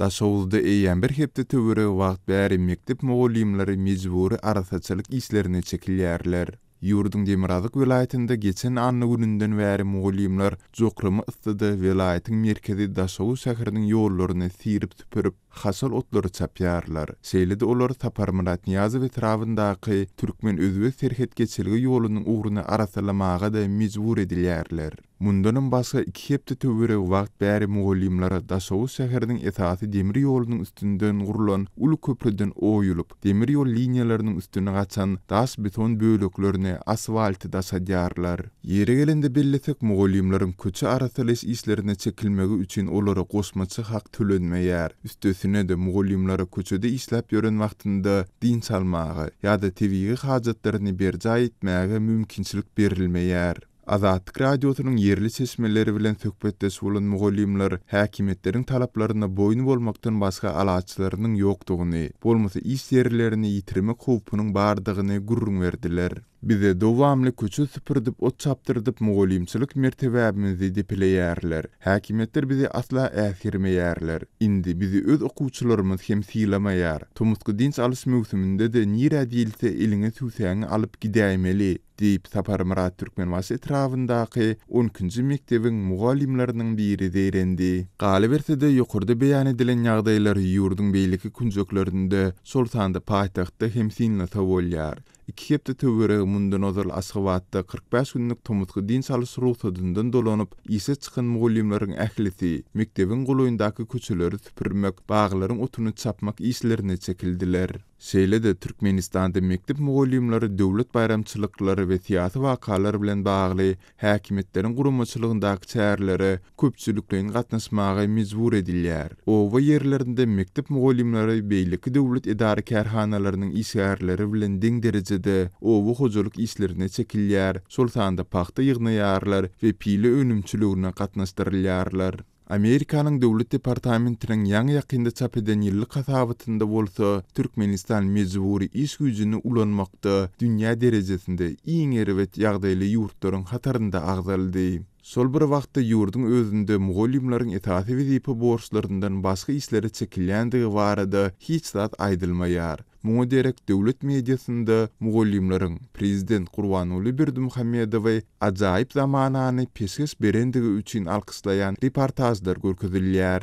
Daşoguzda eýýäm bir hepde töweregi wagt bäri mekdep mugallymlary mejbury arassaçylyk işlerine çekilýärler. Ýurduň demirgazyk welaýatynda geçen anna gününden bäri mugallymlar jokrama yssyda welaýatyň merkezi Daşoguz şäheriniň ýollaryny syrip-süpürip, haşal otlary çapýarlar. Şeýle-de olar Saparmyrat Nyýazow etrabyndaky türkmen-özbek serhet geçelge ýolunyň ugruny arassalamaga-da mejbur edilýärler. Mundanam başga iki hepde töweregi wagt bäri mugallymlara Daşoguz şäheriniň esasy demir ýolunyň üstünden gurlan uly köprüden oýulyp, demir ýol liniýalarynyň üstüne gaçan daş-beton böleklerini, asfalty daşadýarlar. Ýeri gelende bellesek, mugallymlaryň köçe arassalaýyş işlerine çekilmegi üçin olara goşmaça hak tölenmeýär. Üstesine-de, mugallymlara köçede işläp ýören wagtynda dynç almaga ýa-da tebigy hajatlaryny berjaý etmäge mümkinçilik berilmeýär. Azatlyk Radiosynyň ýerli çeşmeleri bilen söhbetdeş bolan mugallymlar häkimiýetleriň talaplaryna boýun bolmakdan başga alaçlarynyň ýokdugyny, bolmasa iş ýerlerini ýitirmek howpunyň bardygyny gürrüň berdiler. Bize dowamly köçe süpürdip, ot çapdyrdyp, mugallymçylyk mertebäbimizi depeleýärler. Häkimiýetler bizi asla äsgermeýärler. Indi bizi öz okuwçylarymyz hem sylamaýar. Tomusky dynç alyş möwsüminde-de nirä diýilse eliňe süwsäňi alyp gidäýmeli. Diýip, Saparmyrat Türkmenbaşy etrabyndaky on ikinji mekdebiň mugallymlarynyň biri zeýrendi. Galyberse-de, ýokarda beýan edilen ýagdaýlar ýurduň beýleki künjeklerinde, şol sanda paýtagtda hem synlasa bolýar. Iki hepde töweregi mundan ozal Aşgabatda kyrk bäş günlük tomusky dynç alyş rugsadyndan dolanyp, işe çykan mugallymlaryň ählisi mekdebiň golaýyndaky köçeleri süpürmek, baglaryň otuny çapmak işlerine çekildiler. Şeýle-de Türkmenistanda mekdep mugallymlary döwlet baýramçylyklary we syýasy wakalar bilen bagly häkimiýetleriň guramaçylygyndaky çärelere köpçülikleýin gatnaşmaga mejbur edilýär. Oba ýerlerinde mekdep mugallymlary beýleki döwlet edara-kärhanalarynyň işgärleri bilen deň derejede oba hojalyk işlerine çekilýär, şol sanda pagta ýygnaýarlar we pile önümçiligine gatnaşdyrylýarlar. Amerikanyň Döwlet departamentiniň ýaňy-ýakynda çap eden ýyllyk hasabatynda bolsa, Türkmenistan mejbury iş güýjüni ulanmakda dünýä derejesinde iň erbet ýagdaýly ýurtlaryň hatarynda agzaldy. Şol bir wagtda ýurduň özünde mugallymlaryň esasy wezipe borçlaryndan başga işlere çekilýändigi barada hiç zat aýdylmaýar. Muňa derek döwlet mediasynda mugallymlaryň prezident Gurbanguly Berdimuhamedowy ajaýyp zamanany peşgeş berendigi üçin alkyşlaýan reportažlar görkezilýär.